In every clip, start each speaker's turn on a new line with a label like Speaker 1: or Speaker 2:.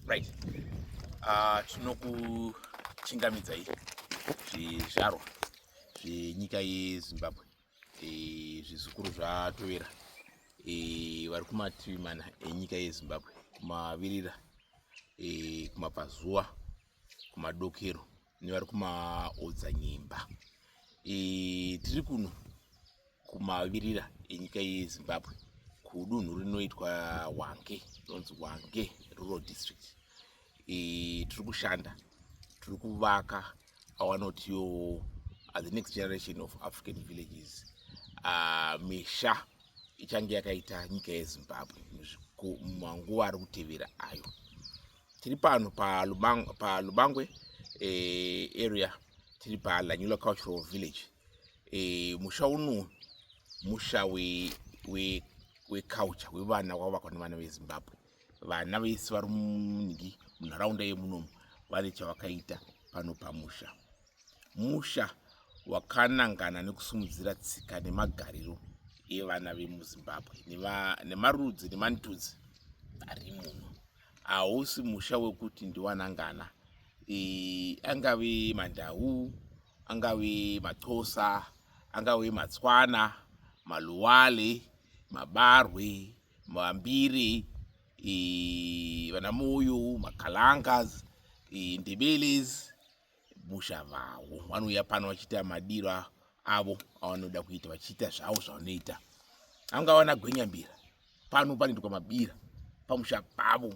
Speaker 1: right ah, tinokuchingamidzai zvizvarwa zvenyika yezimbabwe eh, zvizukuru zvatovera eh, vari kumativi mana enyika yezimbabwe kumavirira eh, kumabvazuva kumadokero nevari kumaodzanyemba e, tiri kuno kumavirira enyika yezimbabwe kudunhu rinoitwa wange rinonzi wange rural district e, tiri kushanda tiri kuvaka awanotiwo uh, the next generation of african villages uh, misha ichange yakaita nyika yezimbabwe manguva ari kutevera ayo tiri pano palubangwe pa lubangwe, eh, area tiri palanyula cultural village eh, musha uno musha weculture we, we wevana wavakwa nevana vezimbabwe vana vese vari munhingi munharaunda yemunomu vane chavakaita pano pamusha musha wakanangana nekusumudzira tsika nemagariro evana vemuzimbabwe nemarudzi nemantudzi ari muno hausi musha wekuti ndiwanangana e, angave mandau angave maxhosa angave matswana maluwale mabarwe mambiri e, vanamoyo makalangas e, ndebeles musha vavo vanouya pano vachiita madiro avo avanoda kuita vachiita zvavo zvavanoita anga vana gwenyambira pano panoitwa mabira pamusha pavo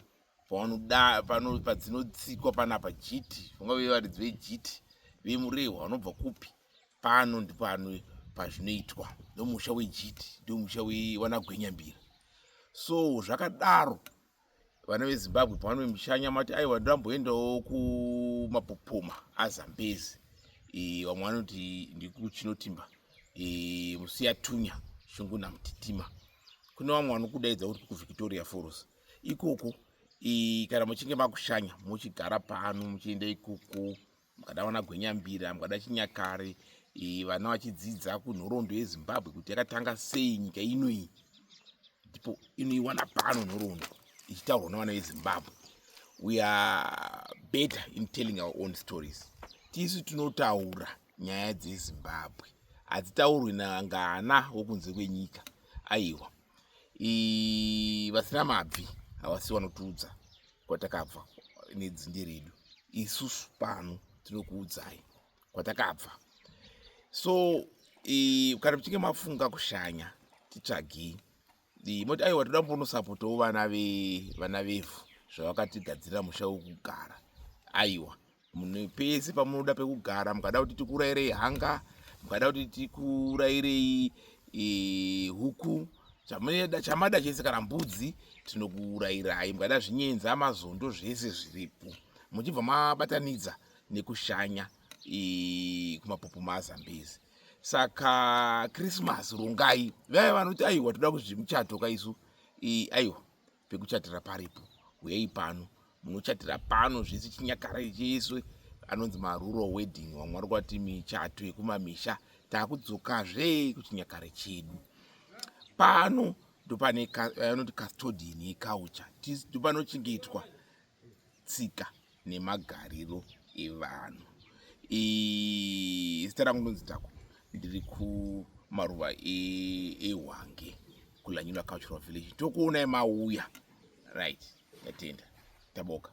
Speaker 1: pavanoda pano padzinotsikwa panapa jiti vangave varidzi vejiti vemurehwa vanobva kupi pano ndipano pazvinoitwa ndomusha wejiti ndomusha wewanagwenyambira so zvakadaro vana vezimbabwe pavanoe mushanya mati aiwa ndamboendawo kumapopoma azambezi e, vamwe vanoti ndikuchinotimba e, musiyatunya shungu namtitima kune vamwe vanokudaidza kuti kuvictoria foros ikoko e, kana muchinge makushanya muchigara pano muchienda ikoko mukada vana gwenyambira mukada chinyakare e, vana vachidzidza kunhoroondo yezimbabwe kuti yakatanga sei nyika ino iyi ndipo inoiwana pano nhoroondo ichitaurwa nevana vezimbabwe we are better in telling our own stories tisu tinotaura nyaya dzezimbabwe hadzitaurwi nangana wokunze kwenyika aiwa vasina mabvi havasi vanotiudza kwatakabva nedzinde redu isusu pano tinokuudzai kwatakabva so e, kana muchinge mafunga kushanya titsvagei e, moti aiwa toda mbonosapotawo vana vevana vevhu zvavakatigadzirira musha wekugara aiwa Munhu pese pamunoda pekugara mukada kuti tikurairei hanga mukada kuti tikurairei e, huku chamada chamada chese kana mbudzi tinokuurairai mukada zvinyenza mazondo zvese zviripo muchibva mabatanidza nekushanya e, kumapopo mazambezi saka krismas rongai vaya vanoti aiwa toda kuzvimuchato kaisu e, aiwa pekuchatira paripo huyei pano munochatira pano zvese chinyakare chese anonzi maruro wedding vamwe vari kwati michato yekumamisha takudzokazve kuchinyakare chedu pano ndopane anoti custodian yecouture ndopanochengetwa tsika nemagariro evanhu zita rangu ndonzi tako ndiri kumaruva ehwange e kulanyula cultural village tokuonai mauya right ndatenda taboka